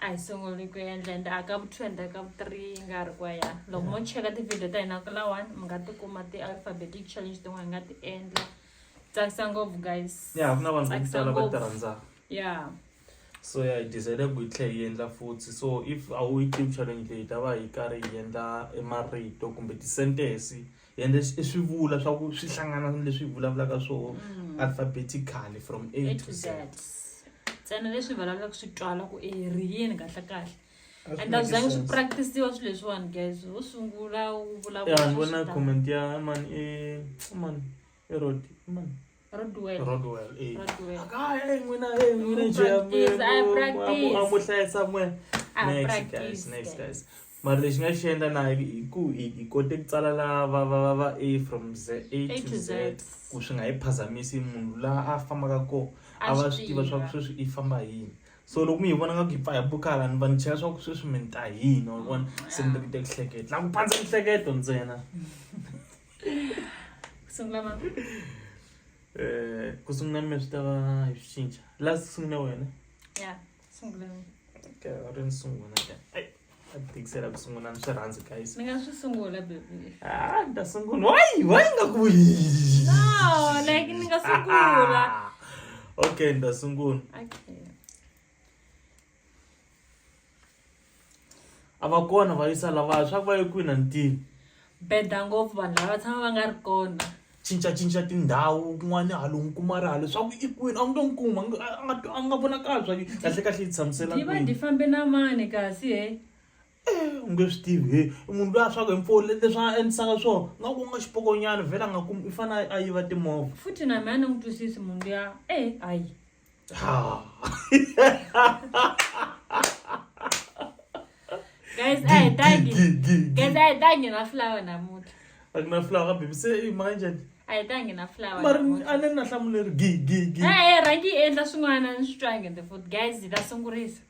a hi sunguli ku endla ende a ka vu two ende a ka vu three yi nga ri kwa ya loko mo cheka tivhidiyo ta hina ku lawani mi nga tikuma ti-alphabetic challenge tin'wana hi nga ti endla tsakisa ngopfu guys ya ku na vanhu vo Tsakisa tala va ngopfu. ti rhandzaka ya so ya hi decide ku hi tlhela hi endla futhi so if a wu yi tivi challenge leyi hi ta va hi karhi hi endla e marito kumbe ti-sentence and i swivula swa ku swi hlangana leswi hi vulavulaka swo mm. alphabetically from a to z ntsena leswi hi vulavulaka swi twala ku e ri yini kahle kahle and a zange swi practisiwa swilo leswiwani guys wo sungula wu vulavula ni vona comment ya man e man Erod, man. Rodwell. Rodwell, eh. Rodwell. Ka eh n'wina eh n'wina Mu njhe practice, I practice. a mu hlayisa n'we. Ah, Next practice, guys, next guys. guys. Mara lexi nga xi endla na hi hi ku hi hi kote ku tsala la va va va va A from Z A A to to Z Z. ku swi nga hi phazamisi munhu la a fambaka ko A a va swi swi tiva swa ku tiva. sweswi i famba hi yini. So loko mi yi vona nga ku yi pfa hi bukala ni va ni chela swa ku sweswi mi ni ta hi yini wa vona se ni tekete hleketa la ku pandza mihleketo ntsena. sungula mama eh ku sungula mi swi ta va hi swi cinca la sungula wena ya sungula okay u ri ni sungula ka ai a tikisela ku sungula ni swi rhandzi guys ni nga swi sungula baby ah ni ta sungula why why nga ku no like ni nga sungula okay ni ta sungula okay a va kona va yisa lavaya swa ku va ye kwini a ni tivi beda ngopfu vanhu lava va tshama va nga ri kona cincacinca tindhawu kun'wana halo n'wi kuma ri halo swa ku i kwini a wu nge n'wi kuma a nga- a nga twa- a nga vonakali swa ku kahle kahle yi tshamisela yi va kwini di fambe na mani kasi he Eh, u nge swi tivi he i munhu loyi a swaku hi mpfula leswi a endlisaka swona nga ku nga xipokonyana vhela a nga kumi i fanele a yiva timovha futhi na mina a ni n'wi twisisi munhu luya e hayi Ah. guys a hi tangi guys a hi tangi na flower namuntlha a ku na flower baby se i mhaka njhani a hi tangi na flower mari a ni ri na hlamuleri gi gi gi e rhangi yi endla swin'wana ni swi twangi the food guys hi ta sungurisa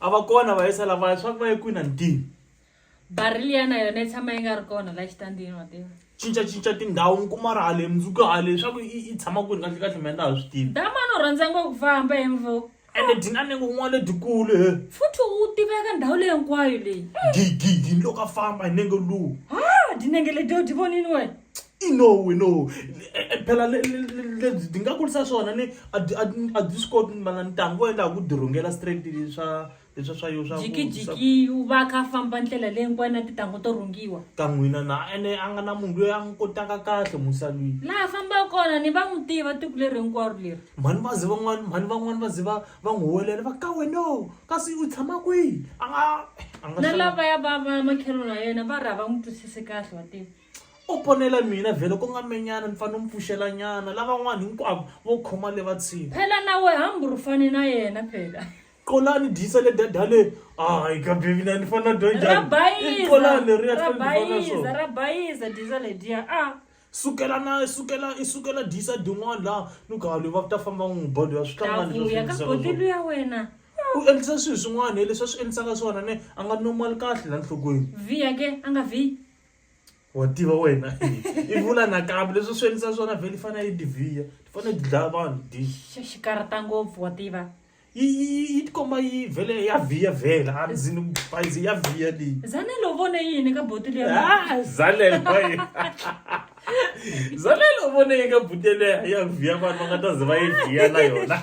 a va kona vayisa lavaya swa ku va ye kwini a ni tivi barili ya na yona yi tshama yi nga ri kona la xitandini wa tiva cincacinca tindhawu mi kuma ri hale mundzuku hale leswaku i i tshama kwini kahle kahle mina na ha swi tivi damani u rhandza ngopfu famba hi mvo ende dina ni kun'wana letikulu he futhi u tiveka ndhawu leyi hinkwayo leyi gigidi ni loko a famba hi nenge luwu ha dinenge letiyo ti vonini wena i no we no eh, eh, phela lebyi ti nga kurisa swona ni a byi swi koti mana ntangu wo endla ku dirhungela straight leswa leswa swa yo swa jikijiki u va kha famba ndlela leyi hinkwayo na titangu to rhungiwa ka n'wina na ene a nga na munhu loyi a n'wi kotaka kahle musalwini laha fambaka kona ni va n'wi tiva tiko leri hinkwaro leri mhani va ze van'wani mhani van'wani va ze va va n'wi huwelela va ka weno kasi u tshama kwihi a nga na lavaya va va makhelwana ya yena va ri a va n'wi twisisi kahle wa tiva O ponela mina vhele ko nga menyana ni fa no mpfuxela nyana lavan'wana hinkwavo vo khoma le va tshini. Phela na we hambi ru fane na yena phela. Qolani dyisa le dadale hayi ka baby na ni fa na dya njhani. Ra bayiza. Qolani leri ya tlhela ni dya na swona. Ra bayiza dyisa le dya a. Sukela na sukela i sukela dyisa din'wana la ni ku halo va ta famba n'wi ba loyi a swi tlanga ni leswi swi boti luya wena. U endlisa swilo swin'wana hi leswi a swi endlisaka swona ne a nga normal kahle la nhlokweni. Vhiya ke a nga vhiyi. wa tiva wena i vula nakambe leswi swi endlisa swona vhele fana yi divhiya ti fanele ti dlaya vanhu xikarata ngopfu wa tiva yi yi tikomba yi vhele ya vhiya vhela a ndzini bayizi ya vhiya leyi zanelo vone yini ka boti leyi zanelo zanelo vone yi ka boti leyi ya vhiya vanhu va nga ta ze va yi vhiya na yona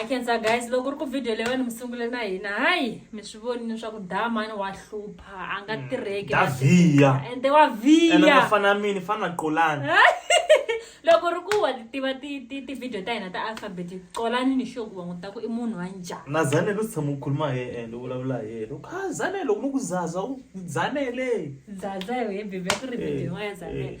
I can say guys loko ri ku video leyo ni mi sungule na hina hayi mi swi vonile swa ku da mani wa hlupha a nga mm. tirheki da viya ende wa viya ene nga fana mini fana qolani loko ri ku wa tiva ti-video ta hina ta alphabet qolani ni xoku wa n'wi ta ku i munhu wa njhani na zanele u tshama u khuluma hi ende u vulavula hi yena u kha zanele loko ni ku zaza u zanele zaza hi bibe ku ri video yin'wana ya zanele